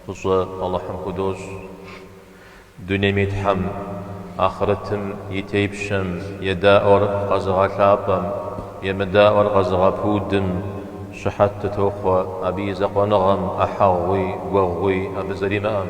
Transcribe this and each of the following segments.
Фӏыщӏэ Алыхьым худощӏ. Дунейм и Тхьэм, ахърытым и Тепщэм, едаӏуэр къэзыгъэлъапӏэм, емыдаӏуэр къэзыгъэпудым щыхьэт дытохъуэ, абы и закъуэныгъэм ӏыхьэгъуи гуэгъуи абы зэримыӏэм.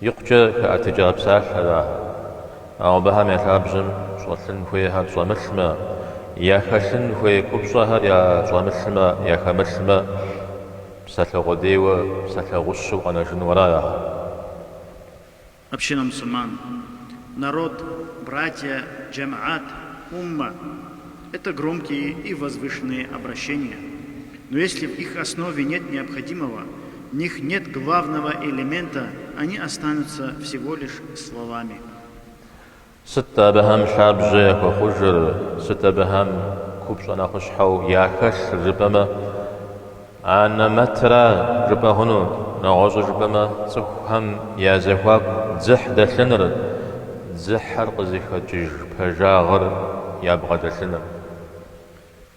Икъукӏэ хэӏэтыкӏа псалъэр ахэр. Ауэ абыхэм я лъабжьэм щӏэлъын хуейхэр щӏэмылъмэ, яхэлъын хуей купщӏэхэр ящӏэмылъмэ, яхэмылъмэ, псалъэ къудейуэ, псалъэ гъущэу къэнэжыну аращ ахэр. Община мусульман, народ, братья, джэмэӏат, уммэ, это громкие и возвышенные обращения, Но если в их основе нет необходимого, в них нет главного элемента, они останутся всего лишь словами. Сыт абыхэм лъабжьэ яхуэхъужыр, сыт абыхэм купщӏэ нэхъыщхьэу яхэлъыр жыпӏэмэ, анэмэтра жыпӏэ хъуну, нэгъуэщӏу жыпӏэмэ, цӏыхухэм я зэхуаку дзыхь дэлъыныр, дзыхьыр къызыхэкӏыж пэжагъыр ябгъэдэлъыныр.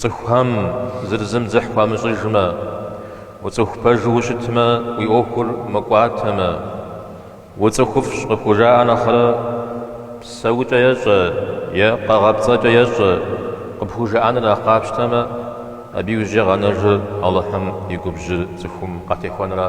Цӏыхухэм зыр зым дзыхь хуамыщӏыжмэ, уцӏыху пэжу ущытмэ, уи ӏуэхур мыкӏуатэмэ, уцӏыхуфӏщ къыпхужаӏэ нэхърэ, псэукӏэ ещӏэ е къэгъэпцӏэкӏэ ещӏэ къыпхужаӏэныр нэхъ къапщтэмэ, абы иужькӏэ къэнэжыр Алыхьым и губжьыр цӏыхум къатехуэнра.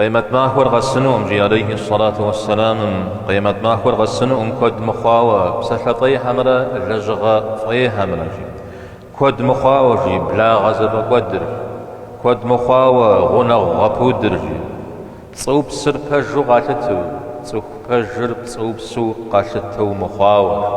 Къемэт махуэр къэсынукъым, жи алейхи ссалату уэссэламым, къемэт махуэр къэсынукъым куэд мыхъуауэ псалъэ фӏейхэмрэ лэжьыгъэ фӏейхэмрэ, жи, куэд мыхъуауэ, жи, благъэ зэфӏэкӏуэдыр, жи, куэд мыхъуауэ гъунэгъу гъэпудыр, жи, пцӏыупсыр пэжу къалъыту, цӏыху пэжыр пцӏыупсу къалъытэу мыхъуауэ, жи.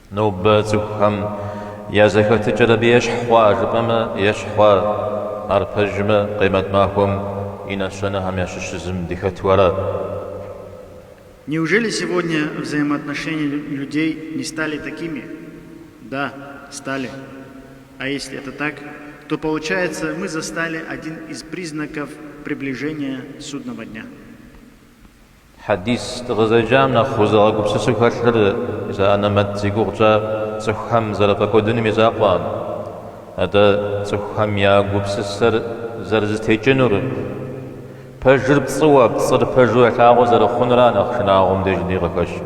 Нобэ цӏыхухэм я зэхэтыкӏэр абы ещхь хъуа жыпӏэмэ ещхь хъуа, ар пэжмэ Къемэт махуэм и нэщэнэхэм ящыщ зым дыхэту ара. Неужели сегодня взаимоотношения людей не стали такими? Да, стали. А если это так, то получается, мы застали один из признаков приближения Судного дня. Хьэдис дыкъызэджам нэхъ узыгъэгупсысу хэлъыр зы анэмэт зи гугъу тщӏар цӏыхухэм зэрыфӏэкӏуэдыным и закъуэкъым. Атӏэ, цӏыхухэм я гупсысэр зэрызэтекӏынур, пэжыр пцӏыуэ, пцӏыр пэжу ялъагъуу зэрыхъунура нэхъ шынагъуэу мыбдежи къыхэщу.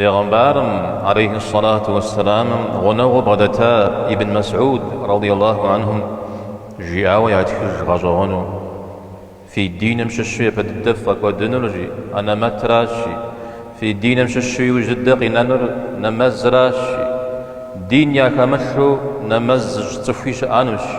Бегъымбарым, алейхи ссалату уэссэламым, гъунэгъуу бгъэдэта Ибн Мэсӏуд, радий Аллаху анхум, жиӏауэ ятхыж гъэщӏэгъуэну, Фи диным щыщу япэ дыдэ ффӏэкӏуэдынурщи, анэмэтращи, фи диным щыщу иужь дыдэ къинэнур нэмэзращи, дин яхэмылъу нэмэз зыщӏ цӏыхуи щыӏэнущи.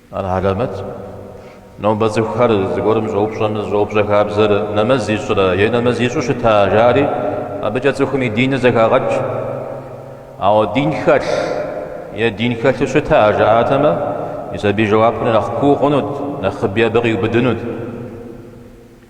Ар хьэлэмэт. Нобэ цӏыхухэр зыгуэрым щӏэупщӏэмэ, зыщӏэупщӏэ хабзэр нэмэз ищӏрэ е нэмэз ищӏу щыта, жари, абыкӏэ цӏыхум и диныр зэхагъэкӏ. Ауэ дин хэлъ е дин хэлъу щыта, жаӏатэмэ, мис абы и жэуапыр нэхъ куу хъунут, нэхъыби абы къиубыдынут.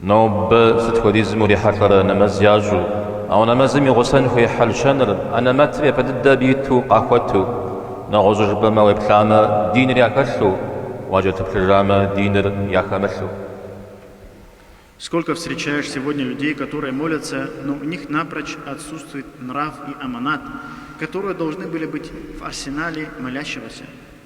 Нобэ сыт хуэдизым урихьэлӏэрэ нэмэз ящӏу? Ауэ нэмэзым и гъусэн хуей хьэл-щэныр, анэмэтыр япэ дыдэ абы иту, къахуэту. Нэгъуэщӏу жыпӏэмэ, уеплъамэ, диныр яхэлъу, уакӏэлъыплъыжамэ, диныр яхэмылъу. Сколько встречаешь сегодня людей, которые молятся, но у них напрочь отсутствует нрав и аманат, которые должны были быть в арсенале молящегося?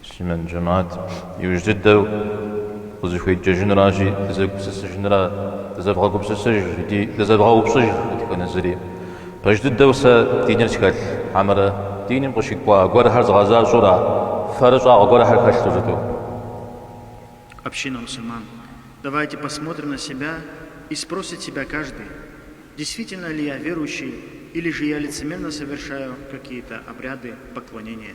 Муслъымэн жэмыхьэт, Иужь дыдэу къызыхуеджэжынращи, дызэгупсысыжынра? Дызэвгъэгупсысыж икӏи дызэвгъэупщӏыж дэтхэнэ зыри. Пэж дыдэу сэ диныр схэлъ, хьэмэрэ диным къыщыкӏуа гуэрхэр згъэзащӏэура, фэрыщӏагъэ гуэрхэр хэлъу щыту? Община мусульман, Давайте посмотрим на себя и спросит себя каждый, действительно ли я верующий или же я лицемерно совершаю какие-то обряды поклонения.